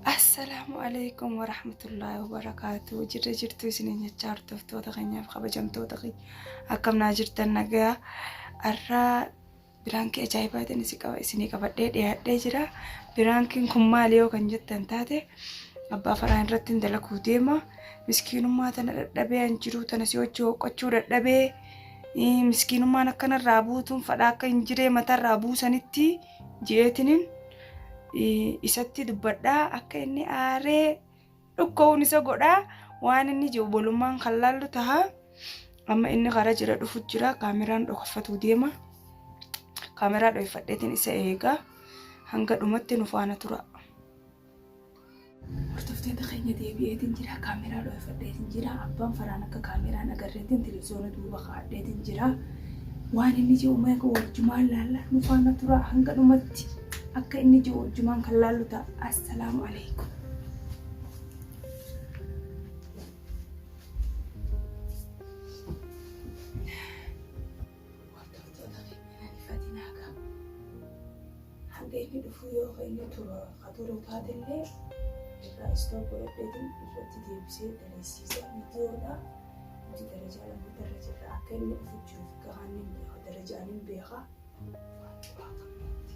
Assalaamu alaikum warahmatullaahi wabarakaatu. Jirra jirtu isin nyachaa hordoftoota keenyaaf kabajamtoota keenya akkam naa jirtan nagayaa. Har'aa biraankii ajaa'ibaatiin isin qaba isinii qabadhee dhiyaadhee jira. Biraankiin kun maali yoo kan jettan taate abbaa faraan irratti hin dalaguu deema. Miskiinummaa tana dadhabee an jiruu tana si hojii hoqqachuu dadhabee miskiinummaan akkanarraa buutuun fadhaa akka hin jiree matarraa buusanitti. je'eetiniin isatti dubbadhaa akka inni aaree dhukka'uun isa godhaa waan inni jiru bolummaan kan laallu taha amma inni karaa jira dhufu jira kaameraan dhokaffatuu deema kaameraa dhoyfadheetiin isa eegaa hanga dhumatti nu faana tura. Hordoftoota keenya deebi'eetiin jira. Kaameeraa dhoofadheetiin jira. Abbaan faraan akka kaameeraan agarreetiin televiziyoona duuba kaa'adheetiin jira. Waan inni jiru meeqa wajjumaan laalla nu faana tura hanga dhumatti akka inni jiru wajjumaan kan laallu ta'a. Assalaamu alaikum. Hordoftoota keenya hin ariifatinaa kaa. Hanga inni dhufuu yoo ka inni tura ka turu taatellee irraa stop godhadheetiin irratti deebisee daleessiisa. Viidiyoodha nuti darajaa lammataa irra jirra akka inni dhufu jiru fi gahaan hin beeka darajaan hin beeka. Waan curaa qabna nuti.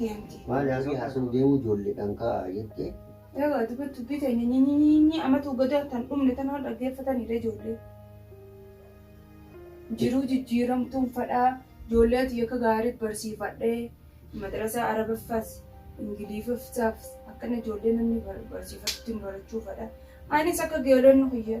deemti. Maali hangii haasa'u deemuu ijoolleedhaan ka'aa jettee. Egaa dubbi dubbii teenya nyinyinyinyi amatu gadaa tan dhumne tanaa dhaggeeffataniire ijoollee. Jiruu jijjiiramu tun fadhaa ijoollee ati akka gaarii barsiifadhee madrasaa arabaffas ingiliifaffas akkana ijoollee namni barsiifatutti hin barachuu fadha. Anis akka geelonni kiyya.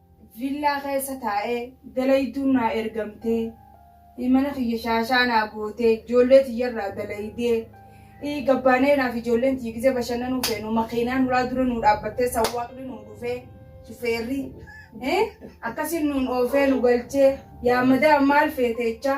Villaa keessa taa'ee dalayduun naa ergamtee, mana kiyya shaashaa naa gootee, ijoollee tiyya irraa dalaydee, gabbaanee naaf ijoolleen tiyya gizee bashannanuu feenu makiinaan ulaa dura nuu dhaabbattee sawwaaqni nuu dhufee shufeerri akkasiin nuun oofee nu galchee yaa madaam maal feete jechaa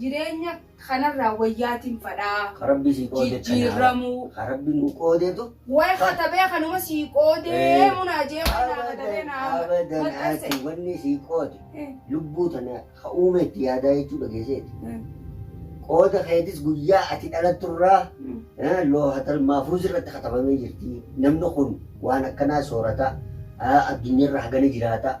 Jireenya kanarraa wayyaatin fadhaa. Ka Rabbi sii qoode kanaa. Jijjiirramuu. Ka Rabbi nuu qoodetu. Way katabee kanuma sii qoodee munaa jee way naa katabee naa Abadan maxxanse. ati wanni sii qoode Eh. lubbuu tana ka uume itti yaadaa jechuu dhageesseeti. Mm. Qooda keetis guyyaa ati dhalatturraa Mm. eh, loohatal maafuuz irratti katabamee jirti. Namni kun waan akkanaa soorata. ah, Addunyaarra hagana jiraata.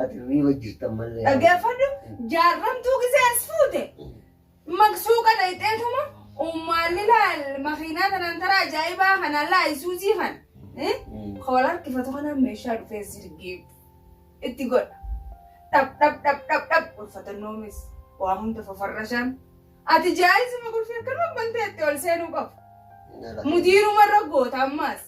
Ati riiba jirtan malee. Dhaggeeffadhu jaarramtuu gisee as fuute maqsuu kana ixeetuma ummaalli laal makiinaa tanaan taraa ajaa'ibaa kanaan laa isuuzii kan koola harkifatu kanaan meeshaa dhufee zirgiif itti godha. Dhab dhab dhab dhab dhab ulfatannoomis waa hunda fafarrashaan ati jaa'isuma qulfii akkanuma bantee itti ol seenuu qabu. Mudiiruma irra goota ammaas.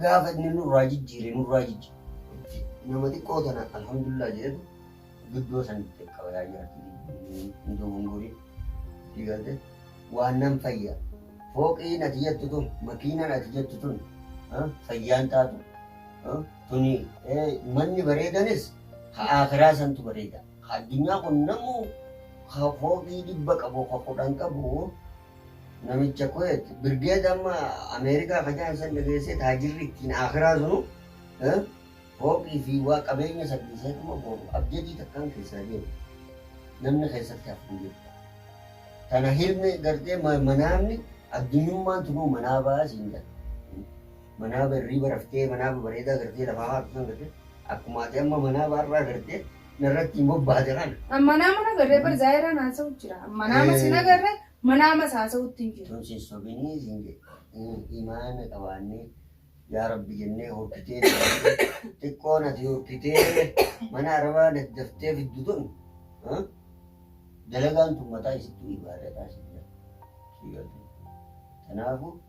gaafa inni nurraa jijjiire nurraa jijjiire. Itti nama xiqqoo tana alhamdulillah jedhetu guddoo san itti qaba yaa jaartii hin dogongorin itti galte waan nan fayya fooqiin ati jettu tun makiinaan ati jettu tun ah, fayyaan taatu ah, tuni eh, manni bareedanis ha akiraa santu bareeda ha addunyaa kun namuu ha fooqii dhibba qabu ha kudhan qabu Namicha Kuwait birgeed amma Ameerikaa kajaan san dhageessee taajirri ittiin akiraa sunu fooqii fi waa qabeenya sadhiisee dhuma booru abjadii takkaan keessaa deemu. Namni keessatti hafu hin jiru. Tana hilmi gartee manaamni addunyummaan tunuu manaa ba'aa siin jedha. Manaa barrii baraftee manaa bareedaa gartee lafaa haatu san gartee akkuma ati amma manaa ba'arraa gartee narratti hin bobbaha jarana. Amma nama hin agarree bar zaayiraan haasa'u jira. Amma nama sin agarree manaamas haasa'utti hin jiru. Tun sin sobinii sin jedhe imaana qabaannee yaa rabbi jennee horkitee xiqqoo nati horkitee mana arabaa nati daftee fiddu tun dalagaan tun mataa isittuu ibaadataa sin jedhe. Kanaafuu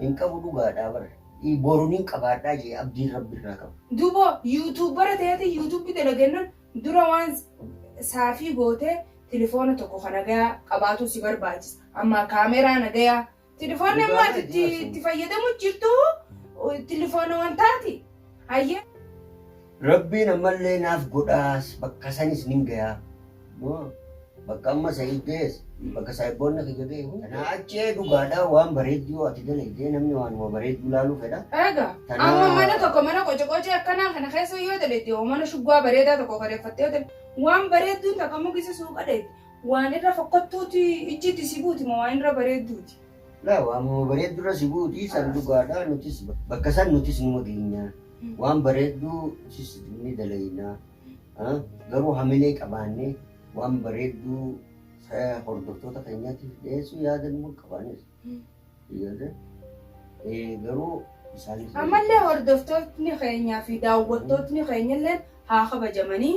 Hin qabu dhugaadhaa bar. I boru nin qabaadhaa jee abdiin rabbi irraa qabu. Dubo yutuubara teeti yutubi dalagennan dura waan saafii gootee tilifoona tokko ka nagayaa qabaatuu si barbaachisa ammaa kaameraa nagayaa tilifoonni Dhugaa ammaa ati baay'ee itti itti fayyadamu jirtu tilifoona wantaati hayyee Rabbiin ammallee naaf godhaas bakka sanis nin gayaa. Moo bakka amma Sa'iid gahes bakka saahiboonna kiyya gahe hunda. Tanaa achi ee dhugaadhaa waan bareeddu yoo ati dalaydee namni waanuma bareeddu laaluu fedha. Eegaa Tanaa- amma mana tokko mana qocaqocee akkanaa kana keessa yoo dalayde hoo mana shuggaa bareedaa tokko kareeffattee yoo dalayde waan bareedduun takka mukisa suuqa dayde waan irra fokkottuuti ijjiitti si buuti moo waan irra bareedduuti. Laa waamuma bareeddurra si buuti san dhugaadha nutis bakka san nutis numa geenya waan bareedduu sis ni dalayna garuu hamilee qabaannee waan bareedduu hordoftoota keenyaatiif dhiyeessuu yaada numa qabaanis garuu isaanis ammallee hordoftootni keenyaa fi daawwattootni keenyallee haa kabajamanii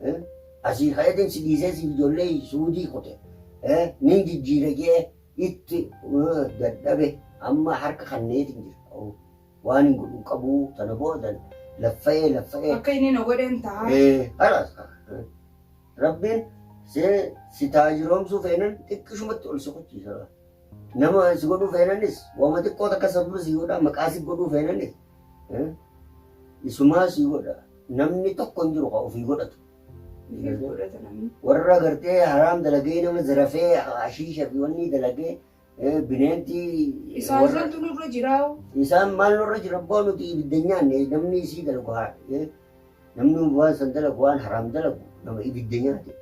Eh? Asii kayatin si dhiisee siif ijoollee suudii kute. Eh? Nin jijjiira jee itti eh, dadhabe amma harka kanneetiin jira. Oh. Waan hin godhu hin qabu sana booda laffa'ee laffa'ee. Akka inni na godheen ta'a. Eh, halas. Eh. Rabbiin see si taajiroomsuu feenan xiqqishumatti ol si kuchiisa. Nama si godhuu feenanis wama xiqqoo takka sababa si godhaa maqaa si godhuu feenanis Isumaa sii godha. Namni tokko hin jiru kan ofii godhatu. Warra gartee haraam dalagee nama zarafee ashiisha fi wanni dalagee bineentii. Isaan santu nurra jiraa'u. Isaan maal nurra jira abbaa nuti ibidda nyaanne namni isii dalagu haa namni waan san dalagu waan haraam dalagu nama ibidda nyaate.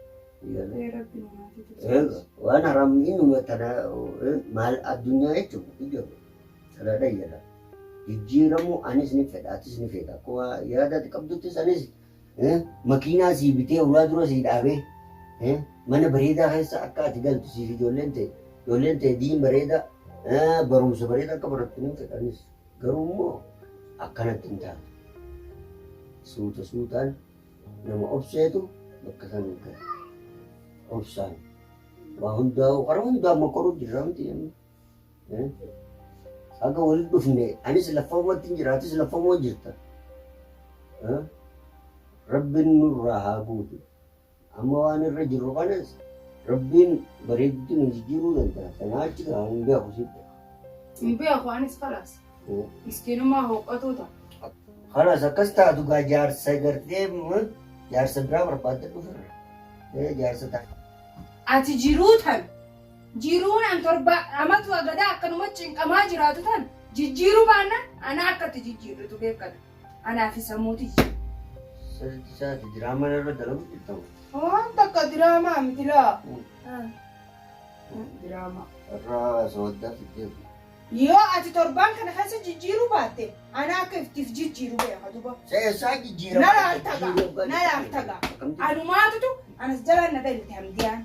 Waan haraam innuma tana maal addunyaa jechuudha. Calaadhan jedha. Jijjiiramuu anis ni fedha atis ni feeta akka waa yaada ati qabduttis anis eh, makiinaa sii bitee ulaa dura sii dhaabee eh, mana bareedaa keessa akka ati galtu siif ijoolleen ta'e ijoolleen ta'e diin bareedaa eh, barumsa bareedaa akka barattu ni fedha anis garuu immoo akkanatti hin taane suuta suutaan nama obseetu bakka san hin gahe obsaan waa hundaa'u karaa hundaa mokoruu jirra miti amma. Haga walitti dhufne anis laffaumatti hin jira atis laffauma jirta. Rabbiin nurraa haa buutu. Amma waan irra jirru kanas Rabbiin bareedutti nu jijjiiruu danda'a. Sanaa achi gaa hin beeku sitti. Hin beeku anis kalaas. Miskiinummaa hooqqatuu ta'a. Kalaas akkas taatu gaa jaarsa gartee jaarsa biraa barbaadda dhuferra. Jaarsa ta'a. Ati jiruu tan Jiruun an torba amatu agadaa akkanuma cinqamaa jiraatu tan jijjiiruu baannan anaa akka itti jijjiirritu beekkadhu. Anaa fi sammuu tiyya. Sirritti isaati diraamaa narra dalagu jirta moo? Waan takka diraamaa miti laa. Diraamaa. Irraa sooddaa fiddee kun. Yoo ati torbaan kana keessa jijjiiruu baatte anaa akka ittiif jijjiiru beeka duba. Sa eessaa jijjiirama? Na laaltaga, na laaltaga. Anumaatutu anas jalaan na daymte hamdiyaan.